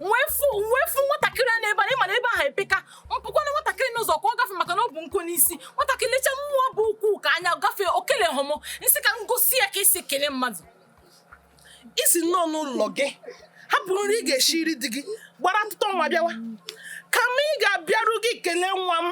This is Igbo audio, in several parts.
mwefu nwatakịrị a n'ebe a ịma na ebe ahụ epeka mpụkwana nwatakịrị n'ụzọ ka ọ gafe maka na ọ bụ nkụ n'isi nwatakịrị lecha mụ nwa bụ ukwuu ka anya gafee o kelehụ mụ m sị ka m gosi ya ka esi ekele mmadụ i si n'ọnụ ụlọ gị hapụ nri ị ga-esiri di gị gbara ụtụtụ nwa bịawa kama ị ga-abịaru gị kelee nwa m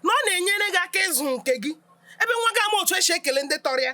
na ọ na-enyere gị aka ịzụ nke gị ebe nwa gị ama otu esi ekele ndị tọrọ ya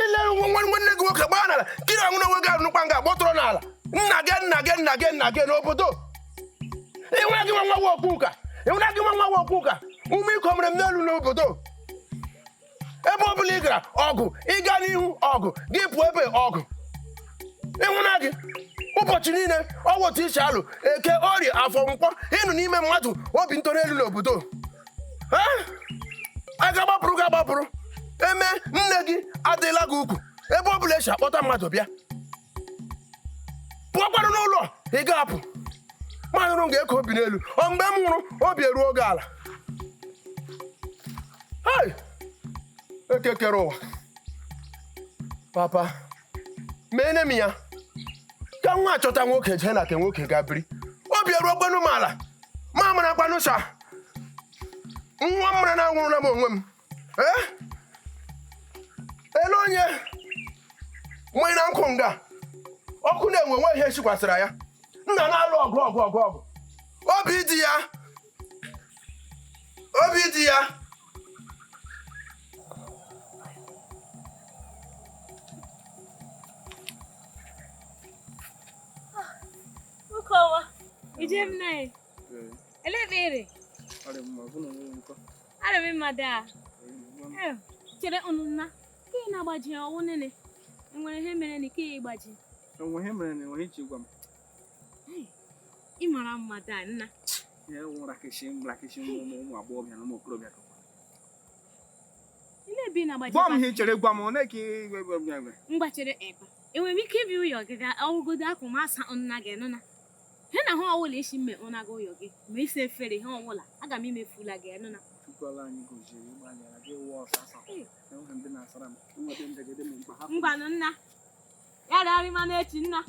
ileru nwa nwa nwanne gị nwoke gbaa n'ala kiri ọnwụ n'onwe gị arụnụkwa nga gbọtụrụ n'ala nna gị n'obodo ịnwere gị nwa okwu ụka ume iko mere m n'elu n'obodo ebe ọ bụla ị gara ọgụ ị ga n'ihu ọgụ gị pụọ ebe ọgụ ịnwụna gị ụbọchị niile ọ wụ otu i si alụ eke orie afọ nkwọ ị nọ na-eme mmadụ obi nọrọ elu n'obodo a ga-agbapụrụ gị agbapụrụ eme nne gị adịla gị ukwu ebe ọ bụla esi akpọta mmadụ bịa pụọkwanụ n'ụlọ ị ga-apụ m anọrọ nga eko obi n'elu ọ mgbe m nwụrụ obi eruo gị ala Hey! Eke kere ụwa papa meene m ya ka nwa a chọta nwoke jee na nke nwoke ga biri obi eruokwanụ m ala m amarakwanụ sa nwa m mara na anwụrụla m onwe m ee ele onye mmanya na nkụ nga ọkụ na-enwu nwe ihe sikwasịra ya nna na-alụ ọgụ Obidiya Obidiya Ije m na ele ekpere arị m mma daa chere ụnụ nna ka ị na-agbaji ọ wụ nene enwere ihe mere na ike ya ịgbaji enwe ihe mere na enweghị iji gwa m ị mara mma daa nna gwa m ihe chere gwa m ole ka mgbachere ebe enwere m ike ibi ụyọ gị ga ọ wụgodu akwa m asa nna gị nụna he na ha ọwụla ị sị m mee ọ na-aga ụyọ gị ma ịsa efere ha ọwụla aga m imefula gị nụna ngwanụ nna ya rịarị ma n'echi nna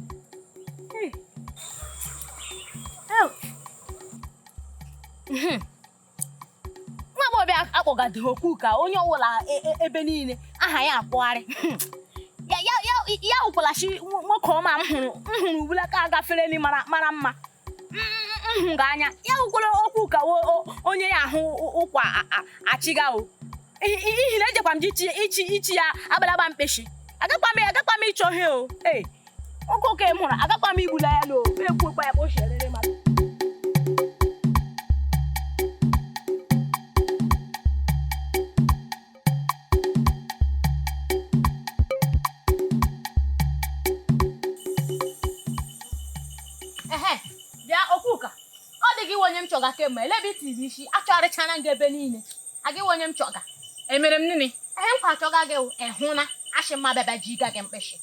nwa baby a akpọgado okwu ka onye ọbụla e- e- ebe niile aha ya akpọgharị ya wụkwalachi nwoke ọma m hụrụ ubulaka gafereni mara mma m hụ gị anya ya wụkwara Okwuka o- o- onye ahụ ụ- ụkwa a- a- achọga o I- i- ihi na ejekwa m ji ichi ichi ichi ya abalaba mkpeshi agakwa m agakwa m ịchọ ihe o ee oke oke m hụrụ agakwa m igbula ya n'o ekwuokwa ya ka o si erere mmadụ ehe bịa Okwuka ọ gị wụ onye m chọga kemgbe elebe itiri isi achọgharịchana gị ebe niile ọ gị wụ onye m chọga emere m nini ehe nkwa achọga gị wụ, ị hụ na achị mma bịaba ji ịga gị mkpịsị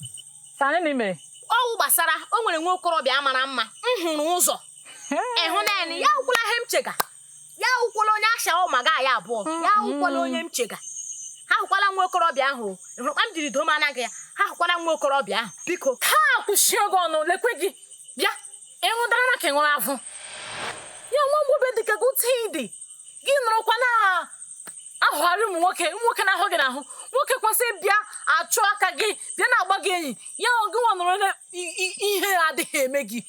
sani na imere ọwụ gbasara o nwere nwa okorobịa mara mma m hụrụ ụzọ ịhụ naanị ya wụla ihe m chega ya awụkwala onye ashawa ụma gị anyị abụọ ya awụkwala onye m chega ya awụkwala nwa okorobịa ahụ o. Ị hụrụ kpa m jiri doo m anya gị ya awụkwala nwa okorobịa ahụ biko ha akwụchie gị ọnụ lekwe gị bịa ịṅụdara na ka ị ṅụrụ afọ ya nwa agbọghọbịa dị ka gị otu ị dị gị nọrọkwa na-achụgharị ụmụ nwoke ụmụ nwoke na-ahụ gị n'ahụ nwoke kwesịrị bịa achụga gị bịa na-agba gị enyi ya ọ gị nwa nọrọ na i- i- ihere adịghị eme gị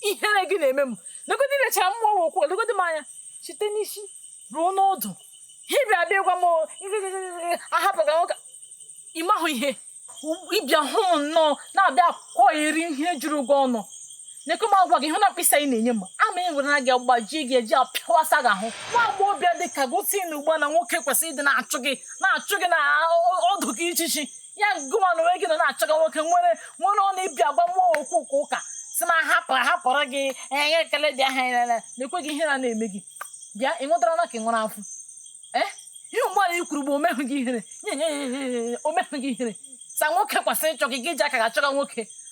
ihere gị na-eme m legodi lechara mụ wụ Okwuka legodi m anya site n'isi ruo n'ọdụ ha bịa bịa gwa m ahapụga nwoke ịmahụ ihe ịbịa hụ m nnọọ na-abịa akọrị ihe juru gị ọnụ lekwe m agwa gị hụ na mkpịsị anyị na-enye m ama e were na gị gbajie gị eji apịawasa gị ahụ nwa agbọghọbịa dị ka gị si na ugbu na nwoke kwesịrị ịdị na-achụ gị na-achụ gị na ọdụ gị chi chi ya gịwa na onwe gị nọ na-achọga nwoke nwere nwere ọnụ ịbịa agwa mụ wụ Okwuka ụka si m hapụ hapụrụ gị enye ekele dị aha ya na-ekwe gị ihere na-eme gị bịa ị nwetara na ka ị nwere afọ ee ihe mgbe anyị kwuru bụ omehụ gị ihere nye nye nye nye nye omehụ gị ihere sa nwoke kwesịrị ịchọ gị gị ji aka gị achọga nwoke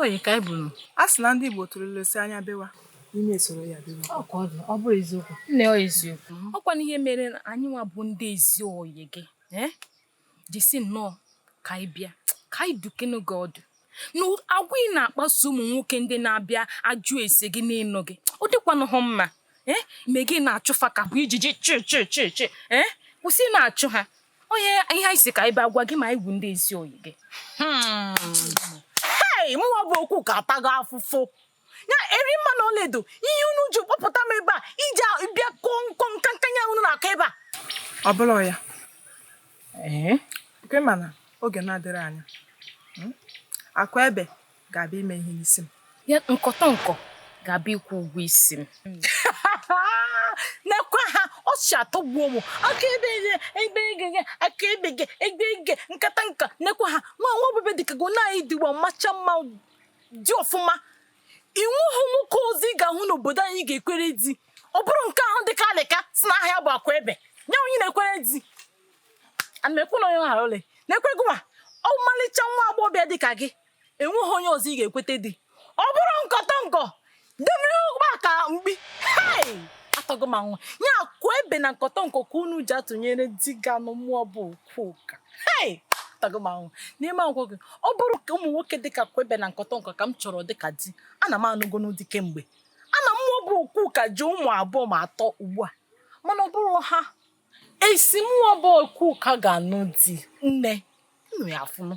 Oyi ka anyị buru. A sị na ndị Igbo tụrụ ilu si anya bewa, imi esoro ya bewa. Ọ ka ọ dị, ọ bụrụ eziokwu. Nne ọ eziokwu. Ọ kwanụ ihe mere na anyị nwa bụ ndị ezi oyi gị. Eh? Ji si nnọọ ka anyị bịa. Ka anyị dukenu gị ọdụ. Na agwa ị na-akpaso ụmụ nwoke ndị na-abịa ajụ ese gị n'ịnụ gị. Ọ dịkwanụhụ mma. Eh? Me gị na-achụ fa ka ọ bụ ijiji chi chi chi chi. Eh? Kwụsị ị na-achụ ha. ọ ihe anyị si ka anyị bịa gwa gị ma anyị wụ ndị ezi oyi gị hmm. hei mụwa bụ Okwuka atago afụfụ ya Erimma na Ọlaedo ihe unu ji kpọpụta m ebe a iji bịa kọọ nkọ nka nkanya unu na-akọ ebe a ọ bụla ya ee eh? kwe mana oge na-adịrị anya hmm? akụ ebe ga-abịa ime ihe n'isi m ya nkọtọnkọ ga-abịa ịkwụ ụgwọ isi m nekwa ha ọ si atọgbuo m aka ebe ihe ebe ege gị aka ebe gị ebe ege nkata nka nekwa ha ma nwa obebe dịka gị na anyị dịwa macha mma dị ọfụma o nweghị nwoke ọzọ ị ga-ahụ n'obodo anyị ga-ekwerezi ọ bụrụ nke ahụ dịka alịka si na ahịa bụ akụebe nye onye na-ekwere di ana m ekwu na onye ghara ole na-ekwere gị nwa ọmalịcha nwa agbọghọbịa dịka gị enweghị onye ọzọ ị ga-ekwetadị ọ bụrụ nkọtọnkọ debere ọkpa ka mkpi hei atọgo ma nwa ya akụebe na nkọtọnkọ ka unu ji atụnyere di ga-anụ mụwa bụ okwuka hei atọgo ma nwa n'ime agwọ gị ọ bụrụ ka ụmụ nwoke dị ka akụebe na nkọtọnkọ ka m chọrọ dị ka di ana m anụgonụ di kemgbe ana m mụwa bụ okwuka ji ụmụ abụọ ma atọ ugbu a mana ọ bụrụ ha asị mụwa bụ okwuka ga-anụ di nne nnu ya afụnụ